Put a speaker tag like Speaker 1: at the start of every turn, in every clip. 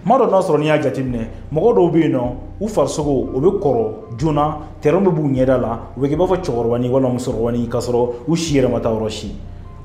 Speaker 1: ma dɔ n'a sɔrɔ n'i y'a jateminɛ mɔgɔ dɔw bɛ yen nɔ u farisogo o bɛ kɔrɔ joona tɛrɛn bɛ b'u ɲɛda la u bɛ kɛ i b'a fɔ cɛkɔrɔbanin walima musokɔrɔbanin k'a sɔrɔ u si yɛrɛ ma taa yɔrɔ si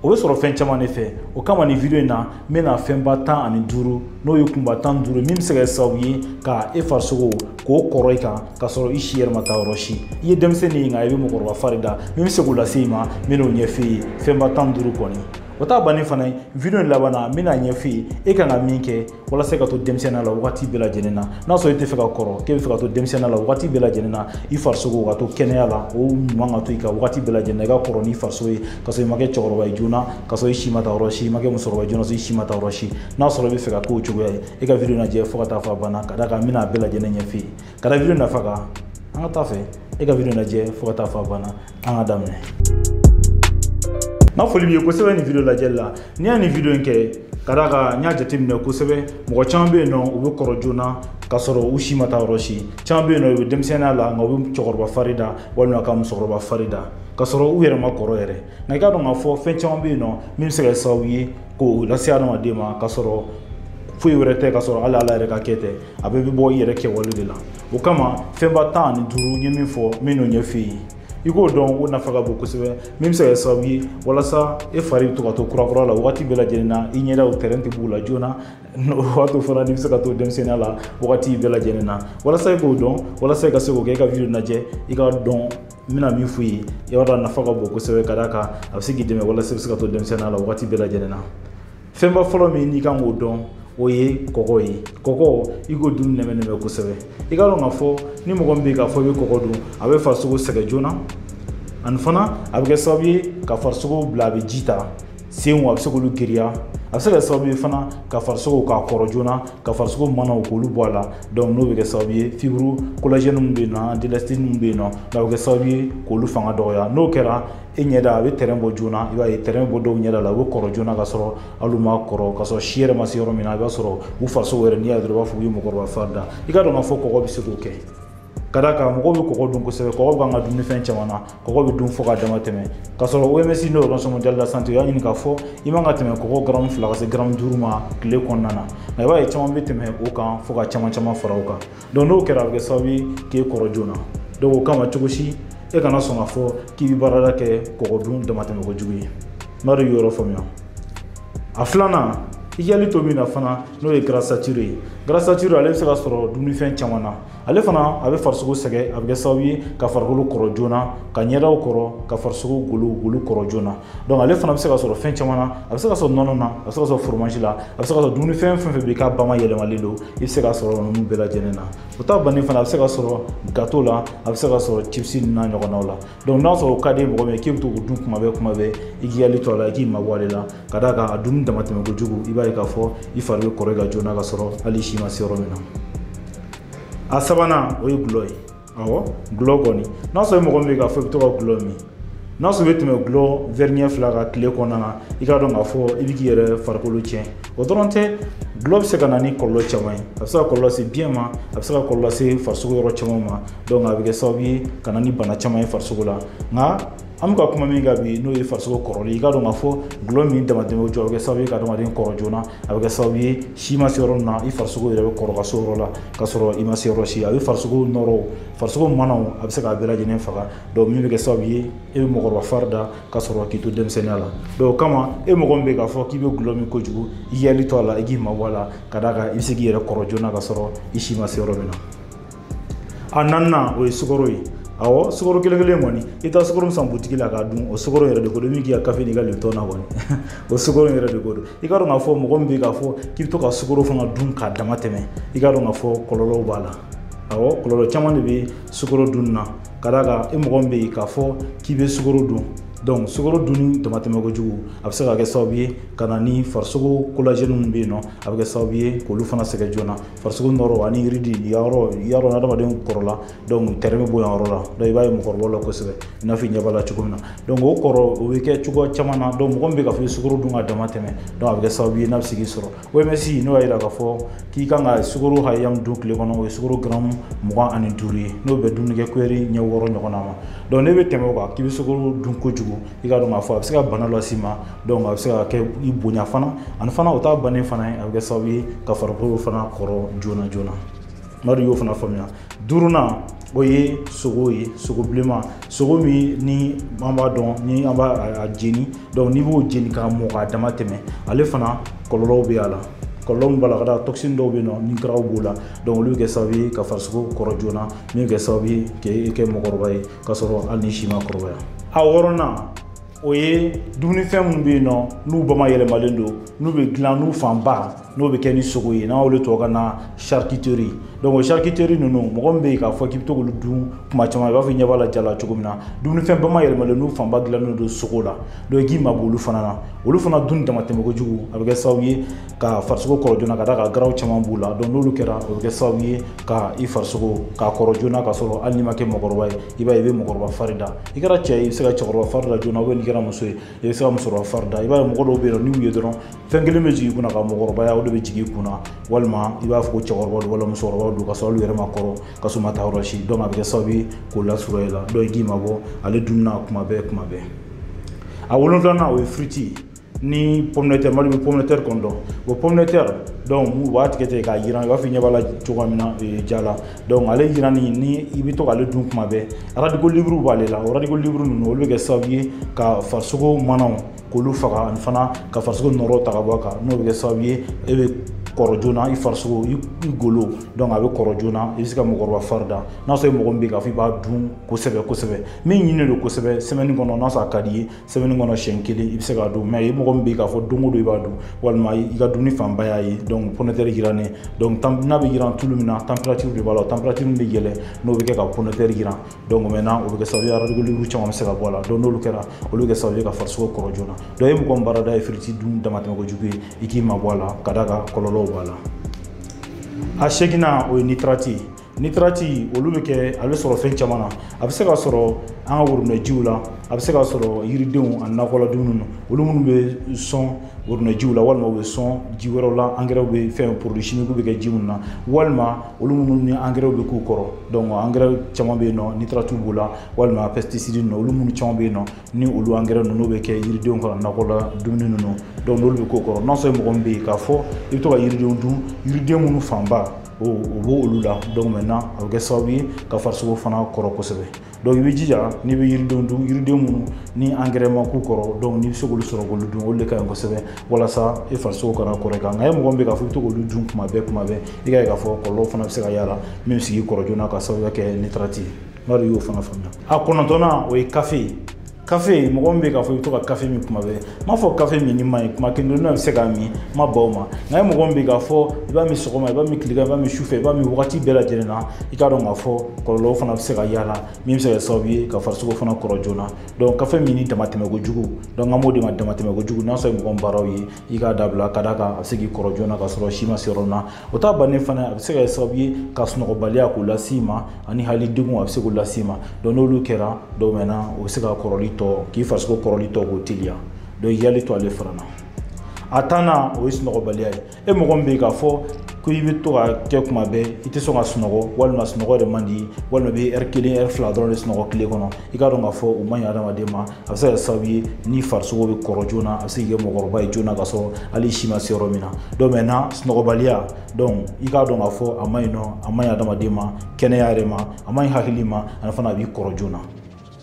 Speaker 1: o bɛ sɔrɔ fɛn caman de fɛ o kama nin video in na n bɛna fɛnba tan ani duuru n'o ye kunba tan ni duuru min bɛ se ka kɛ sababu ye ka e farisogo k'o kɔrɔ i kan k'a sɔrɔ i si yɛrɛ ma taa yɔrɔ si i ye denmisɛnnin ye nka i bɛ mɔgɔkɔrɔba fari da min bɛ se k'o lase i ma n bɛn'o ɲɛf'i ye fɛnba tan ni duuru kɔni o t'a bannen fana ye video laban na n bɛna ɲɛf'i ye e kan ka min kɛ walasa ka to denmisɛnniya la wagati bɛɛ lajɛlen na n'a sɔrɔ e tɛ fɛ ka kɔrɔ k'e bɛ fɛ ka to denmisɛnniya la wagati bɛɛ lajɛlen na i farisogo ka to kɛnɛya la o ɲuman ka to i kan wagati bɛɛ lajɛlen na i ka kɔrɔ n'i farisogo ye ka sɔrɔ i ma kɛ cɛkɔrɔba ye joona ka sɔrɔ i si ma taa yɔrɔ si i ma kɛ musokɔrɔba joona sɔrɔ i si ma taa yɔrɔ si n'a sɔrɔ i bɛ fɛ ka k'o cogoya ye e ka video lajɛ fo ka taa fɔ a banna ka d'a kan n bɛna a bɛɛ lajɛlen ɲɛf'i ye ka da video nafa kan an ka taa fɛ e ka video lajɛ fo ka taa fɔ a banna an ka daminɛ n ka foli b'i ye kosɛbɛ nin video lajɛli la ne ye nin video in kɛ ka d'a kan n y'a jateminɛ kosɛbɛ mɔgɔ caman bɛ yen nɔ u bɛ kɔrɔ joona k'a sɔrɔ u si ma taa yɔrɔ si caman bɛ yen nɔ u bɛ denmisɛnninya la nka u bɛ cɛkɔrɔba fari da walima ka musokɔrɔba fari da k'a sɔrɔ u yɛrɛ ma kɔrɔ yɛrɛ nka i k'a dɔn k'a fɔ fɛn caman bɛ yen nɔ min bɛ se ka kɛ sababu ye k'o lase adamaden ma k'a sɔrɔ foyi wɛrɛ tɛ k'a sɔrɔ hali ala yɛrɛ ka kɛ tɛ a bɛɛ bɛ bɔ i yɛrɛ kɛwale de la o kama fɛnba tan ani duuru n ye min fɔ n bɛn'o ɲɛf'i ye i k'o dɔn o nafa ka bon kosɛbɛ min bɛ se ka kɛ sababu ye walasa e fari bɛ to ka to kurakura la wagati bɛɛ lajɛlen na i ɲɛdaw tɛrɛn tɛ b'u la joona o b'a to fana n'i bɛ se ka to denmisɛnninya la wagati bɛɛ lajɛlen na walasa i k'o dɔn walasa i ka se k'o kɛ i ka video lajɛ i k'a dɔn n bɛna min f'i ye i b'a dɔn a nafa ka bon kosɛbɛ ka d'a kan a bɛ se k'i dɛmɛ walasa i bɛ se ka to denmisɛnninya la wagati bɛɛ lajɛlen na fɛnba fɔlɔ min n'i kan k'o dɔn o ye kɔgɔ ye kɔgɔ i k'o dun nɛmɛ nɛmɛ kosɛbɛ i k'a dɔn k'a fɔ ni mɔgɔ min bɛ k'a fɔ i bɛ kɔgɔ dun a bɛ farisogo sɛgɛn joona ani fana a bɛ kɛ sababu ye ka farisogo bila a bɛ ji ta senw a bɛ se k'olu giriya a bɛ se ka kɛ sababu ye fana ka farisogo k'a kɔrɔ joona ka farisogo manaw k'olu bɔ a la donc n'o bɛ kɛ sababu ye fibre collagène min bɛ yen nɔ d'élastine min bɛ yen nɔ a bɛ kɛ sababu ye k'olu fanga dɔgɔya n'o kɛra e ɲɛda a bɛ tɛrɛn bɔ joona i b'a ye tɛrɛn bɔ dɔw ɲɛda la u bɛ kɔrɔ joona ka sɔrɔ hali u ma kɔrɔ ka sɔrɔ si yɛrɛ ma se yɔrɔ min na i b'a sɔrɔ u farisogo yɛrɛ n'i y'a dɔrɔn i b'a fɔ u ye mɔgɔkɔrɔba fari da i k'a dɔn k'a fɔ kɔgɔ bɛ se k'o kɛ ka d'a kan mɔgɔw bɛ kɔgɔ dun kosɛbɛ kɔgɔ b'an ka dumunifɛn caman na kɔgɔ bɛ dun fo ka dama tɛmɛ ka sɔrɔ oms n'o ye organisation mondiale de la santé y'a ɲini k'a fɔ i man ka tɛmɛ kɔgɔ garamu fila ka se garamu duuru ma tile kɔnɔna na nka i b'a ye caman bɛ tɛmɛ o kan fo ka caman caman fara o kan donc n'o kɛra a bɛ kɛ sababu ye k'e kɔrɔ joona donc o kama cogo si e kana sɔn k'a fɔ k'i bɛ baarada kɛ kɔgɔ dun damatɛmɛ kojugu ye n b'a dɔn i yɔrɔ faamuya a filanan i k'i hakili to min na fana n'o ye gras saturé ye gras saturé ale bɛ se ka sɔrɔ dumunifɛn caman na ale fana a bɛ farisogo sɛgɛn a bɛ kɛ sababu ye ka farikolo kɔrɔ joona ka ɲɛdaw kɔrɔ ka farisogo golo golo kɔrɔ joona donc ale fana bɛ se ka sɔrɔ fɛn caman na a bɛ se ka sɔrɔ nɔnɔ na a bɛ se ka sɔrɔ fromage la a bɛ se ka sɔrɔ dumunifɛn fɛn fɛn bɛ yen k'a bamayɛlɛmalen don i bɛ se ka sɔrɔ ninnu bɛɛ lajɛlen na o t'a bannen fana a bɛ se ka sɔrɔ gâteau la a bɛ se ka sɔrɔ chips n'a ɲɔgɔnnaw la donc n'a sɔrɔ o ka di mɔgɔ min ye k'i bɛ to k'o dun kuma bɛɛ kuma bɛɛ i k'i hakili to a la i k'i mabɔ ale la ka d'a kan a dunni damatɛmɛ kojugu i b'a ye k'a fɔ i fari bɛ kɔrɔ i kan joona ka sɔrɔ hali i si ma se yɔrɔ min na a sabanan o ye gulɔ ye awɔ gulɔ kɔni n'a sɔrɔ mɔgɔ min bɛ k'a fɔ i bɛ to ka gulɔ min n'a sɔrɔ i bɛ tɛmɛ gulɔ wɛri ɲɛ fila kan tile kɔnɔna na i k'a dɔn k'a fɔ i bɛ k'i yɛrɛ farikolo tiɲɛ o dɔrɔn tɛ gulɔ bɛ se ka na ni kɔlɔlɔ caman ye a bɛ se ka kɔlɔlɔ lase biyɛn ma a bɛ se ka kɔlɔlɔ lase farisogo yɔrɔ caman ma donc a bɛ kɛ sababu ye ka na ni bana caman ye farisogo la nka an bɛ ka kuma min kan bi n'o ye farisogo kɔrɔli i k'a dɔn k'a fɔ gulɔ min damatɛmɛ kojugu a bɛ kɛ sababu ye ka adamaden kɔrɔ joona a bɛ kɛ sababu ye si ma se yɔrɔ min na i farisogo yɛrɛ bɛ kɔrɔ ka se o yɔrɔ la ka sɔrɔ i ma se yɔrɔ si a bɛ farisogo nɔrɔw farisogo manaw a bɛ se k'a bɛɛ lajɛlen faga donc min bɛ kɛ sababu ye e bɛ mɔgɔkɔrɔba fari da ka sɔrɔ k'i to denmisɛnninya la donc o kama e mɔgɔ min bɛ k'a fɔ k'i bɛ gulɔ min kojugu i k'i hakili to a la i k'i mabɔ a la ka d'a kan i bɛ se k'i yɛrɛ kɔrɔ joona ka sɔrɔ i si ma se yɔrɔ min na a naaninan o ye sukaro ye awɔ sukaro kelen kelen kɔni i taa sukaro min san butigi la k'a dun o sukaro yɛrɛ de ko don min k'i ka kafe n'i ka lipton na kɔni o sukaro yɛrɛ de ko don i k'a dɔn k'a fɔ mɔgɔ min bɛ k'a fɔ k'i bɛ to ka sukaro fana dun k'a dama tɛmɛ i k'a dɔn k'a fɔ kɔlɔlɔw b'a la awɔ kɔlɔlɔ caman de bɛ sukaro dun na ka d'a kan e mɔgɔ min bɛ yen k'a fɔ k'i bɛ sukaro dun donc sukaro dunni damatɛmɛ kojugu a bɛ se ka kɛ sababu ye ka na ni farisogo collagène minnu bɛ yen nɔ a bɛ kɛ sababu ye k'olu fana sɛgɛn joona farisogo nɔrɔ ani ride yɔrɔ yɔrɔ adamaden kɔrɔla donc trait bɛ bɔ yan yɔrɔ la donc i b'a ye mɔgɔkɔrɔbaw la kosɛbɛ i n'a fɔ i ɲɛ b'a la cogo min na donc o kɔrɔ o bɛ kɛ cogoya caman na donc mɔgɔ min bɛ k'a fɔ i sukaro dun ka dama tɛmɛ donc a bɛ kɛ sababu ye n'a bɛ se k'i sɔrɔ OMS ninnu y'a jira k'a fɔ k'i kan ka sukaro hakɛya min dun tile kɔnɔ o ye sukaro garamu mugan ani duuru ye n'o bɛ dumunikɛ kuyɛri ɲɛ wɔɔrɔ ɲɔgɔnna ma donc n'e bɛ tɛmɛ o kan k'i bɛ sukaro dun kojugu i k'a dɔn k'a fɔ a bɛ se ka bana las'i ma donc a bɛ se ka kɛ i bonya fana ani fana o t'a bannen fana ye a bɛ kɛ sababu ye ka farikolo fana kɔrɔ joona joona n b'a dɔn i y'o fana faamuya duurunan o ye sogo ye sogo bilenman sogo min ni an b'a dɔn ni an b'a a jeni donc n'i b'o jeni k'a mɔ k'a dama tɛmɛ ale fana kɔlɔlɔw bɛ a la kɔlɔlɔ min b'a la ka da toxine dɔw bɛ yen nɔ ni garaw b'o la donc olu bɛ kɛ sababu ye ka farisogo kɔrɔ joona min bɛ kɛ sababu ye k'e kɛ mɔgɔkɔrɔba ye k'a sɔrɔ hali n'i si ma kɔrɔbaya a wɔɔrɔnan o ye dumunifɛn minnu bɛ yen nɔ n'u bamayɛlɛmalen don n'u bɛ dilan n'u fanba n'o bɛ kɛ ni sogo ye n'an y'olu tubabukan na charcuterie donc o charcuterie ninnu mɔgɔ min bɛ yen k'a fɔ k'i bɛ to k'olu dun kuma caman i b'a fɔ i ɲɛ b'a la ja la cogo min na dumunifɛn bamayɛlɛmalen n'u fanba dilannen don sogo la donc i k'i mabɔ olu fana na olu fana dun damatɛmɛ kojugu a bɛ kɛ sababu ye ka farisogo kɔrɔ joona ka d'a kan garaw caman b'u la donc n'olu kɛra o bɛ kɛ sababu ye ka i farisogo k'a kɔrɔ joona k'a sɔrɔ hali n'i ma kɛ mɔgɔkɔrɔba ye i b'a ye i bɛ mɔgɔkɔrɔba fari da i kɛra cɛ ye i bɛ se ka cɛkɔrɔba fari da joona ou bien n'i kɛra muso ye i bɛ se ka musokɔrɔba fari da i b'a ye mɔgɔ dɔw bɛ yen nɔ n'u ye dɔrɔn fɛn kelen bɛ jigin i kunna ka mɔgɔkɔrɔbaya o de bɛ jigin i kunna walima i b'a fɔ ko cɛkɔrɔba don walima musokɔrɔba don k'a sɔrɔ olu yɛrɛ ma kɔrɔ k'a sɔrɔ ma taa yɔrɔ si donc a bɛ kɛ sababu ye k'o lasɔrɔ i la donc i k'i mabɔ ale dunni na kuma bɛɛ kuma bɛɛ a wolonfilanan o ye firiti ye ni pomme de terre mali bɛ pomme de terre kɔni dɔn o pomme de terre donc u b'a tigɛ tigɛ k'a jiran i b'a fɔ i ɲɛ b'a la cogoya min na eh, ja la donc ale jiranni ni i bɛ to k'ale dun kuma bɛɛ radicaux libres b'ale la o radicaux libres ninnu olu bɛ kɛ sababu ye ka farisogo manaw k'olu faga ani fana ka farisogo nɔɔrɔ ta ka bɔ a kan n'o bɛ kɛ sababu ye e bɛ kɔrɔ joona i farisogo i golo donc a bɛ kɔrɔ joona i bɛ se ka mɔgɔkɔrɔba fari da n'a sɔrɔ mɔgɔ min bɛ yen k'a fɔ i b'a dun kosɛbɛ kosɛbɛ min ɲininen don kosɛbɛ semaine kɔnɔ n'a sɔrɔ a ka d'i ye semaine kɔnɔ siɲɛ kelen i bɛ se k'a dun mais i mɔgɔ min bɛ yen k'a fɔ don o don i b'a dun walima i ka dumuni fanba y'a ye donc pomme de terre jirannen donc n'a bɛ jiran tulu min na température de b'a la température min bɛ yɛlɛn n'o bɛ kɛ ka pomme de terre jiran donc maintenant o bɛ kɛ sababu ye radicaux libres caman bɛ se ka bɔ a la donc n'olu kɛra olu bɛ kɛ sababu ye ka farisogo kɔrɔ joona donc e mɔgɔ min baarada ye firiti dun damatɛmɛ kojugu ye i k'i mabɔ a la ka d'a kan kɔlɔlɔw b'a la a seginnan o ye nitrate ye nitrate olu bɛ kɛ a bɛ sɔrɔ fɛn caman na a bɛ se ka sɔrɔ an ka woromɛjiw la a bɛ se ka sɔrɔ yiridenw ani nakɔla dumuni na olu minnu bɛ sɔn woromɛjiw la walima u bɛ sɔn ji wɛrɛw la angɛrɛw bɛ fɛn produits chimiques bɛ kɛ ji minnu na walima olu minnu ni angɛrɛw bɛ k'u kɔrɔ donc angɛrɛ caman bɛ yen nɔ nitrate b'u la walima pesticide ninnu olu minnu caman bɛ yen nɔ ni olu angɛrɛ ninnu bɛ kɛ yiridenw ka nakɔla dumuni ninnu donc n'olu bɛ k'u kɔrɔ n'a sɔrɔ mɔgɔ min bɛ yen k'a fɔ i bɛ to ka yiridenw dun yiriden minnu fanba o bɔ olu la donc maintenant a bɛ kɛ sababu ye ka farisogo fana kɔrɔ kosɛbɛ donc i bɛ jija n'i bɛ yiridenw dun yiriden minnu ni angɛrɛ ma k'u kɔrɔ donc n'i bɛ se k'olu sɔrɔ k'olu dun olu de ka ɲi kosɛbɛ walasa i farisogo kana kɔrɔ i kan nka e mɔgɔ min bɛ k'a fɔ i bɛ to k'olu dun kuma bɛɛ kuma bɛɛ i k'a ye k'a fɔ kɔlɔlɔ fana bɛ se ka y'a la min bɛ se k'i kɔrɔ joona k'a sababuya kɛ nitrate ye n b'a dɔn i y'o fana faamuya a kɔnɔntɔnnan o ye kafe ye kafe mɔgɔ min bɛ k'a fɔ i bɛ to ka kafe min kuma bɛɛ n m'a fɔ kafe minni man ɲi kuma kelen dɔrɔn bɛ se k'a min n ma ban o ma nka e mɔgɔ min bɛ k'a fɔ i b'a min sɔgɔma i b'a min tilegan i b'a min sufɛ i b'a min wagati bɛɛ lajɛlen na i k'a dɔn k'a fɔ kɔlɔlɔw fana bɛ se ka y'a la min bɛ se ka kɛ sababu ye ka farisogo fana kɔrɔ joona donc kafe minni damatɛmɛ kojugu donc an b'o de ma damatɛmɛ kojugu n'a sɔrɔ mɔgɔ min baaraw ye i k'a dabila ka d'a kan a bɛ se k'i kɔrɔ joona k'a sɔrɔ si ma se yɔrɔ min na o ta bannen fana a bɛ se ka kɛ sababu ye ka sunɔgɔbaliya k'o las'i ma ani hali degun a bɛ se k'o las'i ma donc n'olu kɛra donc maintenant o bɛ se ka kɔrɔli tɔ k'i farisogo kɔrɔli tɔ k'o teliya donc i hakili to ale fana na a tannan o ye sunɔgɔbaliya ye e mɔgɔ min bɛ yen k'a fɔ ko i bɛ to ka kɛ kuma bɛɛ i tɛ sɔn ka sunɔgɔ walima sunɔgɔ yɛrɛ man di walima i bɛ ɛri kelen ɛri fila dɔrɔn de sunɔgɔ tile kɔnɔ i k'a dɔn k'a fɔ o man ɲi adamaden ma a bɛ se ka kɛ sababu ye ni farisogo bɛ kɔrɔ joona a bɛ se k'i kɛ mɔgɔkɔrɔba ye joona ka sɔrɔ hali si ma se yɔrɔ min na donc maintenant sunɔgɔbaliya donc i k'a dɔn k'a fɔ a man ɲi nɔ a man ɲi adamaden ma kɛnɛya yɛrɛ ma a man ɲi hakili ma ani fana a b'i kɔrɔ joona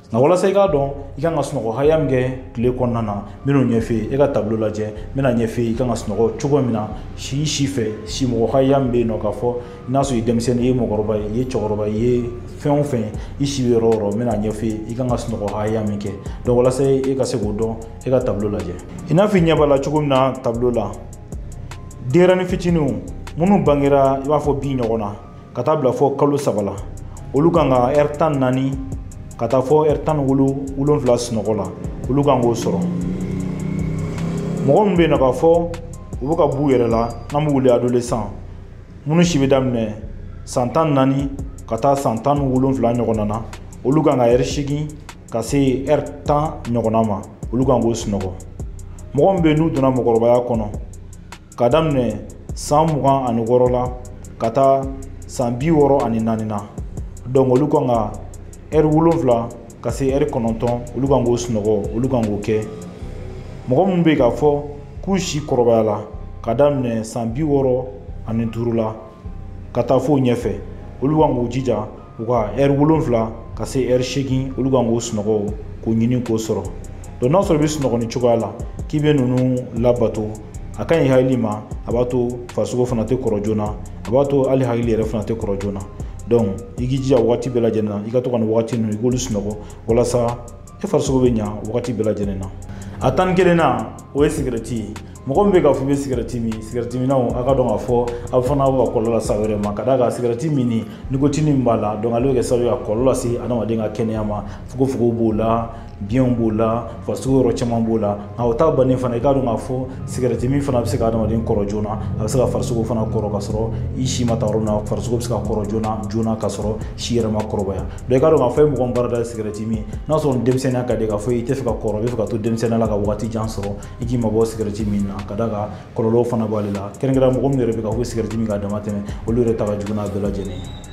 Speaker 1: nka walasa i k'a dɔn i kan ka sunɔgɔ hakɛya min kɛ tile kɔnɔna na n bɛn'o ɲɛf'i ye e ka tableau lajɛ n bɛn'a ɲɛf'i ye i kan ka sunɔgɔ cogo min na si si fɛ si mɔgɔ hakɛya min bɛ yen nɔ k'a fɔ n'a sɔrɔ i ye denmisɛnnin ye i ye mɔgɔkɔrɔba ye i ye cɛkɔrɔba ye i ye fɛn o fɛn i si bɛ yɔrɔ o yɔrɔ n bɛn'a ɲɛf'i ye i kan ka sunɔgɔ hakɛya min kɛ donc walasa e ka se k'o dɔn e ka tableau lajɛ i n'a fɔ i ɲɛ b'a la cogo min na tableau la denyɛrɛnin fitininw minnu bangera i b'a fɔ bi ɲɔgɔn na ka taa bila fɔ kalo saba la olu kan ka ɛri tan ni naani ka taa fɔ ɛri tan ni wolonwula sunɔgɔ la olu kan k'o sɔrɔ mɔgɔ min bɛ yen nɔ k'a fɔ u bɛ ka b'u yɛrɛ la n'an b'u wele adolescent minnu si bɛ daminɛ san tan ni naani ka taa san tan ni wolonfila ɲɔgɔnna na olu kan ka ɛri seegin ka se ɛri tan ɲɔgɔnna ma olu kan k'o sunɔgɔ mɔgɔ min bɛ n'u donna mɔgɔkɔrɔbaya kɔnɔ ka daminɛ san mugan ani wɔɔrɔ la ka taa san bi wɔɔrɔ ani naani na donc olu kan ka ɛri wolonfila ka se ɛri kɔnɔntɔn olu kan k'o sunɔgɔ olu kan k'o kɛ mɔgɔ minnu bɛ k'a fɔ k'u si kɔrɔbayala ka daminɛ san bi wɔɔrɔ ani duuru la ka taa fo ɲɛfɛ olu kan k'u jija u ka ɛri wolonfila ka se ɛri seegin olu kan k'o sunɔgɔ k'o ɲini k'o sɔrɔ donc n'a sɔrɔ i bɛ sunɔgɔ nin cogoya la k'i bɛ ninnu labato a ka ɲi hakili ma a b'a to farisogo fana tɛ kɔrɔ joona a b'a to hali hakili yɛrɛ fana tɛ kɔrɔ joona donc i k'i jija wagati bɛɛ lajɛlen na i ka to ka nin wagati ninnu i k'olu sunɔgɔ walasa e farisogo bɛ ɲa wagati bɛɛ lajɛlen na a tan ni kelennan o ye sigɛrɛti ye mɔgɔ min bɛ k'a fɔ i bɛ sigɛrɛti min sigɛrɛti minnaw a k'a dɔn k'a fɔ aw fana bɛ ka kɔlɔlɔ lase aw yɛrɛ ma ka d'a kan sigɛrɛti minni nikotini min b'a la donc ale bɛ kɛ sababu ye ka kɔlɔlɔ lase adamaden ka kɛnɛya ma fogofogow b'o la biɲɛw b'o la farisogo yɔrɔ caman b'o la nka o ta bannen fana i k'a dɔn k'a fɔ sigɛrɛti min fana bɛ se ka adamaden kɔrɔ joona a bɛ se ka farisogo fana kɔrɔ ka sɔrɔ i si ma taa yɔrɔ min na farisogo bɛ se ka kɔrɔ joona joona ka sɔrɔ si yɛrɛ ma kɔrɔbaya donc i k'a dɔn k'a fɔ e mɔgɔ min baara da ye sigɛrɛti min n'a sɔrɔ denmisɛnninya ka di k'a fɔ i tɛ fɛ ka kɔrɔ i bɛ fɛ ka to denmisɛnninya la ka wagati jan sɔrɔ i k'i mabɔ sigɛrɛti min na ka d'a kan kɔlɔlɔw fana b'ale la kɛrɛnkɛrɛnnenya mɔgɔ min yɛrɛ bɛ k'a fɔ sigɛrɛti min k'a dama tɛmɛ olu yɛrɛ ta ka jugu n'a bɛɛ lajɛlen ye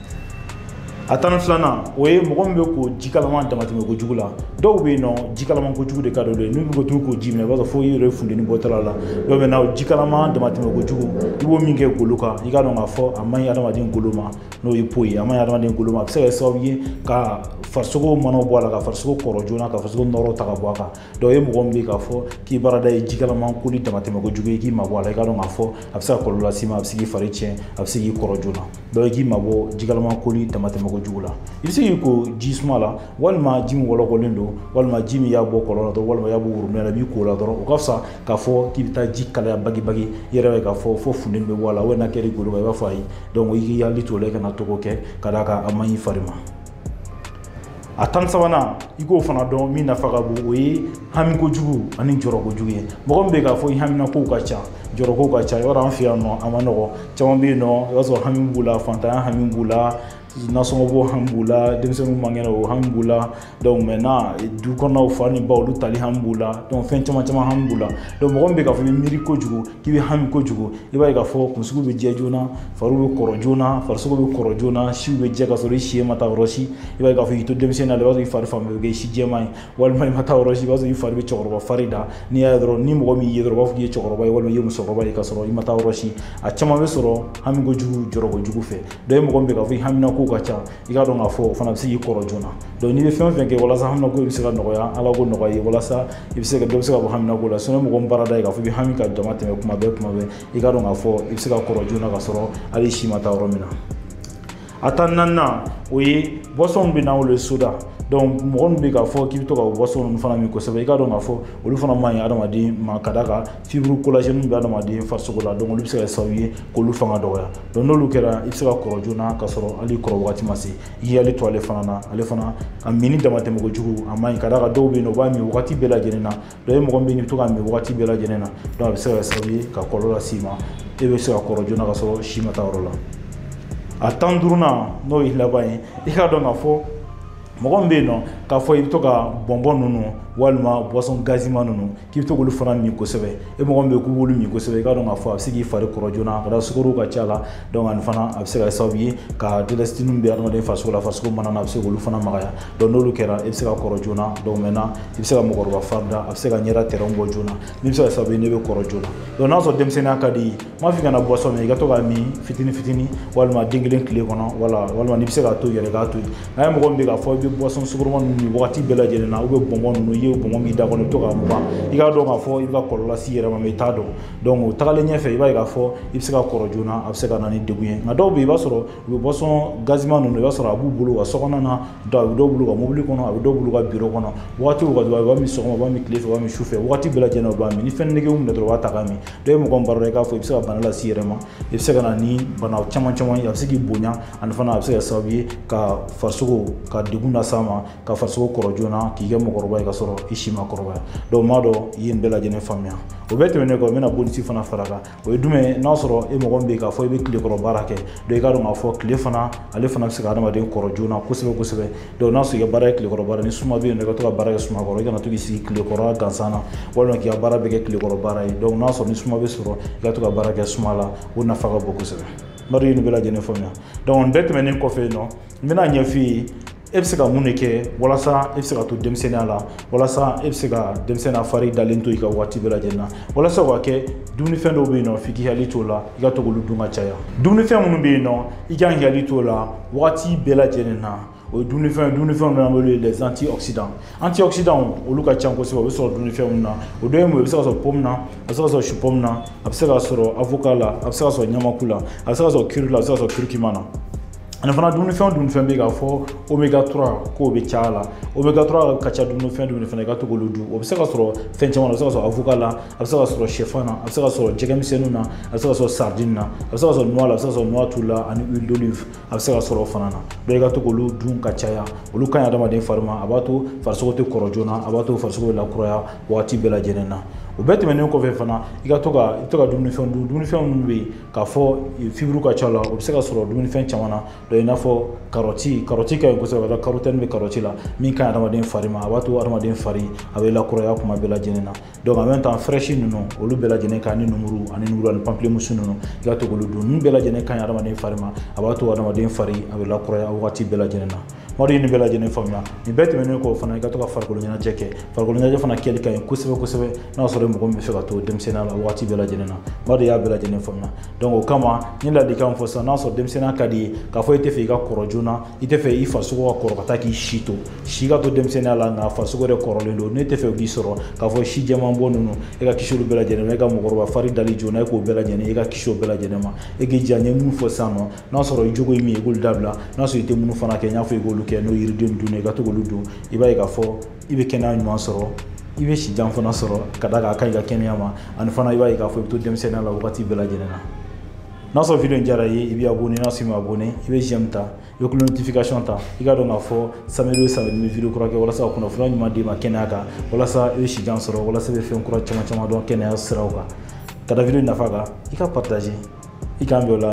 Speaker 1: a tan ni filanan o ye mɔgɔ min bɛ ko ji kalaman damatɛmɛ kojugu la dɔw bɛ yen nɔ ji kalaman kojugu de ka d'olu ye n'u bɛ to k'u ko ji min na i b'a sɔrɔ fo i yɛrɛ funteni bɔtɔla la dɔw bɛ na ji kalaman damatɛmɛ kojugu i b'o min kɛ golo kan i k'a dɔn k'a fɔ a man ɲi adamaden golo ma n'o ye peau ye a man ɲi adamaden golo ma a bɛ se ka kɛ sababu ye ka farisogo manaw bɔ a la ka farisogo kɔrɔ joona ka farisogo nɔɔrɔ ta ka bɔ a kan donc e mɔgɔ min bɛ k'a fɔ k'i baarada ye ji kalaman koli damatɛmɛ kojugu ye k'i mabɔ a la i k'a dɔn k'a fɔ a bɛ se ka kɔlɔlɔ las'i ma a bɛ se k'i fari tiɲɛ a bɛ se k'i kɔrɔ joona donc i k'i mabɔ ji kalaman koli damatɛmɛ kojugu la i bɛ se k'i ko ji suma la walima ji min wɔlɔkɔlen don walima ji min y'a bɔ kɔlɔn na dɔrɔn walima y'a bɔ worobinɛ la i b'i ko la dɔrɔn o ka fisa k'a fɔ k'i bɛ taa ji kalaya bagibagi i yɛrɛ bɛ k'a fɔ fo funteni bɛ bɔ a la walima n'a kɛra i golo kan i b'a fɔ ayi donc i k'i hakili to o la i kana to k'o kɛ ka d'a kan a man ɲi i fari ma a tan sabanan i k'o fana dɔn min nafa ka bon o ye hami kojugu ani jɔrɔ kojugu ye mɔgɔ min bɛ k'a fɔ i haminakow ka ca jɔrɔkow ka ca i b'a dɔn an fɛ yan nɔ a man nɔgɔ caman bɛ yen nɔ i b'a sɔrɔ hami b'u la fantanya hami b'u la nasɔngɔ bɔ hami b'u la denmisɛnninw man kɛnɛ o hami b'u la donc maintenant du kɔnɔnaw fa ni ba olu tali hami b'u la donc fɛn caman caman hami b'u la donc mɔgɔ min bɛ k'a fɔ i bɛ miiri kojugu k'i bɛ hami kojugu i b'a ye k'a fɔ kunsigiw bɛ jɛ joona fariw bɛ kɔrɔ joona farisogo bɛ kɔrɔ joona siw bɛ jɛ ka sɔrɔ i si ma taa yɔrɔ si i b'a ye k'a fɔ i to denmisɛnninya la i b'a sɔrɔ i fari fan bɛɛ bɛ kɛ si jɛman ye walima i ma taa yɔrɔ si i b'a sɔrɔ i fari bɛ cɛkɔrɔba fari da n'i y'a ye dɔrɔn ni mɔgɔ min ye dɔrɔn u b'a fɔ k'i ye cɛkɔrɔba ye walima i ye musokɔrɔba ye k'a sɔrɔ i ma taa yɔrɔ si a caman bɛ sɔrɔ hami kojugu jɔrɔ kojugu fɛ donc e mɔgɔ min bɛ k'a fɔ i hamina kow ka ca i k'a dɔn k'a fɔ o fana bɛ se k'i kɔrɔ joona donc n'i bɛ fɛn o fɛn kɛ walasa haminako bɛ se ka nɔgɔya ala k'o nɔgɔya i ye walasa i bɛ se ka dɔ bɛ se ka bɔ haminako la sinon mɔgɔ min baarada ye k'a fɔ i bɛ hami ka dama tɛmɛ kuma bɛɛ kuma bɛɛ i k'a dɔn k'a fɔ i bɛ se ka kɔrɔ joona ka sɔrɔ hali si ma taa yɔrɔ min na a tan naaninan o ye boisson bɛ na wele soda donc mɔgɔ min bɛ k'a fɔ k'i bɛ to ka boisson ninnu fana min kosɛbɛ i k'a dɔn k'a fɔ olu fana man ɲi adamaden ma ka d'a kan fibre collagène bɛ adamaden farisogo la donc olu bɛ se ka kɛ sababu ye k'olu fanga dɔgɔya donc n'olu kɛra i bɛ se ka kɔrɔ joona ka sɔrɔ hali kɔrɔ wagati ma se i k'i hakili to ale fana na ale fana a minni damatɛmɛ kojugu a man ɲi ka d'a kan dɔw bɛ yen nɔ u b'a min wagati bɛɛ lajɛlen na donc e mɔgɔ min bɛ yen i bɛ to k'a min wagati bɛɛ lajɛlen na donc a bɛ se ka kɛ sababu ye ka kɔlɔlɔ las'i ma e bɛ se ka kɔrɔ joona ka sɔrɔ si ma taa yɔrɔ la a tan duurunan n'o ye laban ye i k'a dɔn k'a fɔ mɔgɔ min bɛ yen nɔ k'a fɔ i bɛ to ka bɔnbɔn ninnu walima boisson gazima ninnu k'i bɛ to k'olu fana min kosɛbɛ e mɔgɔ min bɛ k'i b'olu min kosɛbɛ i k'a dɔn k'a fɔ a bɛ se k'i fari kɔrɔ joona ka da sukaro ka ca a la donc ani fana a bɛ se ka kɛ sababu ye ka élastine bɛ adamaden farisogo la farisogo mana na a bɛ se k'olu fana magaya donc n'olu kɛra i bɛ se ka kɔrɔ joona donc maintenant i bɛ se ka mɔgɔkɔrɔba fari da a bɛ se ka ɲɛda traits bɔ joona min bɛ se ka kɛ sababu ye ne bɛ kɔrɔ joona donc n'a sɔrɔ denmisɛnninya ka di m'a f'i kana boisson min i ka to k'a min fitini fitini walima den kelen tile kɔnɔ wala walima n'i bɛ se k'a to yɛrɛ k'a to yen nka e mɔgɔ min bɛ k'a fɔ i bɛ boisson sukoroma ninnu min wagati bɛɛ lajɛlen na ou bien bɔnbɔn ninnu i ye bɔnbɔn min da kɔnɔ i bɛ to k'a mugan i k'a dɔn k'a fɔ i bɛ ka kɔlɔlɔ lase i yɛrɛ ma mais i t'a dɔn donc o tagalen ɲɛfɛ i b'a ye k'a fɔ i bɛ se ka kɔrɔ joona a bɛ se ka na ni degun ye nka dɔw bɛ yen i b'a sɔrɔ u bɛ boisson gazima ninnu i b'a sɔrɔ a b'u bolo u ka sokɔnɔ na donc a bɛ dɔw bolo u ka mobili kɔnɔ a bɛ dɔw bolo u ka biro kɔnɔ wagati o wagati u b'a min sɔgɔma u b'a min tile fɛ u b'a min su fɛ wagati bɛɛ lajɛlen u b'a min ni fɛn nege y'u minɛ dɔrɔn u b'a ta k'a min donc e mɔgɔ b'a la i k'a fɔ i bɛ se ka bana lase i yɛrɛ ma i bɛ se ka na ni bana caman caman ye a bɛ se k'i bonya ani fana a bɛ se ka kɛ sababu ye ka farisogo ka degun lase a ma ka farisogo kɔrɔ joona k'i kɛ mɔgɔkɔrɔba ye ka sɔrɔ i si ma kɔrɔbaya donc n b'a dɔn i ye nin bɛɛ lajɛlen faamuya o bɛɛ tɛmɛnen kɔ n bɛna bonus fana fara kan o ye jumɛn ye n'a sɔrɔ e mɔgɔ min bɛ yen k'a fɔ i bɛ tilekɔrɔ baara kɛ donc i k'a dɔn k'a fɔ tile fana ale fana bɛ se ka hadamaden kɔrɔ joona kosɛbɛ kosɛbɛ donc n'a sɔrɔ i ka baara ye tilekɔrɔ baara ni suma bɛ yen nɔ i ka to ka baara kɛ suma kɔrɔ i kana to k'i sigi tilekɔrɔ gansan na walima k'i ka baara bɛɛ kɛ tilekɔrɔ baara ye donc n'a sɔrɔ ni suma bɛ sɔrɔ i ka to ka baara kɛ suma la o nafa ka bon kosɛbɛ n b'a dɔn i ye nin bɛɛ lajɛlen faamuya donc nin bɛɛ tɛmɛnen kɔfɛ yen nɔ n bɛna ɲɛf'i ye e bɛ se ka mun de kɛ walasa e bɛ se ka to denmisɛnninya la walasa e bɛ se ka denmisɛnninya fari dalen to i kan waati bɛɛ lajɛlen na walasa o ka kɛ dumunifɛn dɔw bɛ yen nɔ f'i k'i hakili t'o la i ka to k'olu dun ka caya dumunifɛn minnu bɛ yen nɔ i kan k'i hakili t'o la wagati bɛɛ lajɛlen na o ye dumunifɛn dumunifɛnw b'an bolo les antioxydants antioxydants olu ka ca kosɛbɛ o bɛ sɔrɔ dumunifɛn minnu na o dɔ ye mun ye o bɛ se ka sɔrɔ pomu na a bɛ se ka sɔrɔ supɔmu na a bɛ se ka sɔrɔ avoka la a bɛ se ka sɔrɔ ɲamaku la a bɛ se ka sɔrɔ kiri la a bɛ se ka sɔrɔ kirikima na ani fana dumunifɛn dumunifɛn bɛ yen k'a fɔ omega 3 k'o bɛ caya la omega 3 ka ca dumunifɛn dumunifɛn na i ka to k'olu dun o bɛ se ka sɔrɔ fɛn caman na o bɛ se ka sɔrɔ avoka la a bɛ se ka sɔrɔ sɛfan na a bɛ se ka sɔrɔ jɛgɛmisɛnninw na a bɛ se ka sɔrɔ sardine na a bɛ se ka sɔrɔ noix la a bɛ se ka sɔrɔ noix tulu la ani huile d'olive a bɛ se ka sɔrɔ o fana na donc i ka to k'olu dun ka caya olu ka ɲi adamaden fari ma a b'a to farisogo tɛ kɔrɔ joona a b'a to farisogo bɛ lakuraya wagati bɛɛ lajɛlen na o bɛɛ tɛmɛnen kɔfɛ fana i ka to ka i bɛ to ka dumunifɛn dun dumunifɛn minnu bɛ yen k'a fɔ fiburu ka ca la o bɛ se ka sɔrɔ dumunifɛn caman na donc i n'a fɔ karɔti karɔti ka ɲi kosɛbɛ ka karɔtɛni bɛ karɔti la min ka ɲi adamaden fari ma a b'a to adamaden fari a bɛ lakuraya kuma bɛɛ lajɛlen na donc en même temps fraise ninnu olu bɛɛ lajɛlen ka ɲi lemuru ani lemuru ani pamplemousse ninnu i ka to k'olu dun ninnu bɛɛ lajɛlen ka ɲi adamaden fari ma a b'a to adamaden fari a bɛ lakuraya wagati bɛɛ lajɛlen na n b'a dɔn i ye nin bɛɛ lajɛlen faamuya nin bɛɛ tɛmɛnen kɔ fana i ka to ka farikolo ɲɛnajɛ kɛ farikolo ɲɛnajɛ fana kɛli ka ɲi kosɛbɛ kosɛbɛ n'a sɔrɔ mɔgɔ min bɛ fɛ ka to denmisɛnninya la wagati bɛɛ lajɛlen na n b'a dɔn i y'a bɛɛ lajɛlen faamuya donc o kama n ye ladilikan min fɔ sisan n'a sɔrɔ denmisɛnninya ka di i ye k'a fɔ i tɛ fɛ i ka kɔrɔ joona i tɛ fɛ i farisogo ka kɔrɔ ka taa k'i si to si ka to denmisɛnninya la nka farisogo yɛrɛ kɔrɔlen don ne t'a fɛ o k'i sɔrɔ k'a fɔ si jɛman bɔ ninnu e ka kisi olu bɛɛ lajɛlen ma e ka mɔgɔkɔrɔba fari dali joona e k'o bɛɛ lajɛlen e ka kisi o bɛɛ lajɛlen ma e k'i jija n ye minnu fɔ sisan nɔ n'a sɔrɔ i jogo ye min ye i k'olu dabila n'a sɔrɔ i tɛ minnu fana kɛ n y'a fɔ i k'olu kɛ n'o yiriden dun i ka to k'olu dun i b'a ye k'a fɔ i bɛ kɛnɛya ɲuman sɔrɔ i bɛ si jan fana sɔrɔ ka da kan a ka ɲi i ka kɛnɛya ma ani fana i b'a ye k'a fɔ i bɛ to denmisɛnninya la wagati bɛɛ lajɛlen na n'a sɔrɔ video in diyara i ye i bɛ abonné n'a sɔrɔ i ma abonné i bɛ j'aime ta i bɛ cloche notification ta i k'a dɔn k'a fɔ samedi o samedi n bɛ video kura kɛ walasa ka kunnafoniya ɲuman d'i ma kɛnɛya kan walasa i bɛ sijan sɔrɔ walasa i bɛ fɛn kura caman caman dɔn kɛnɛya siraw kan ka da video in nafa kan i ka partager i k'an bɛn o la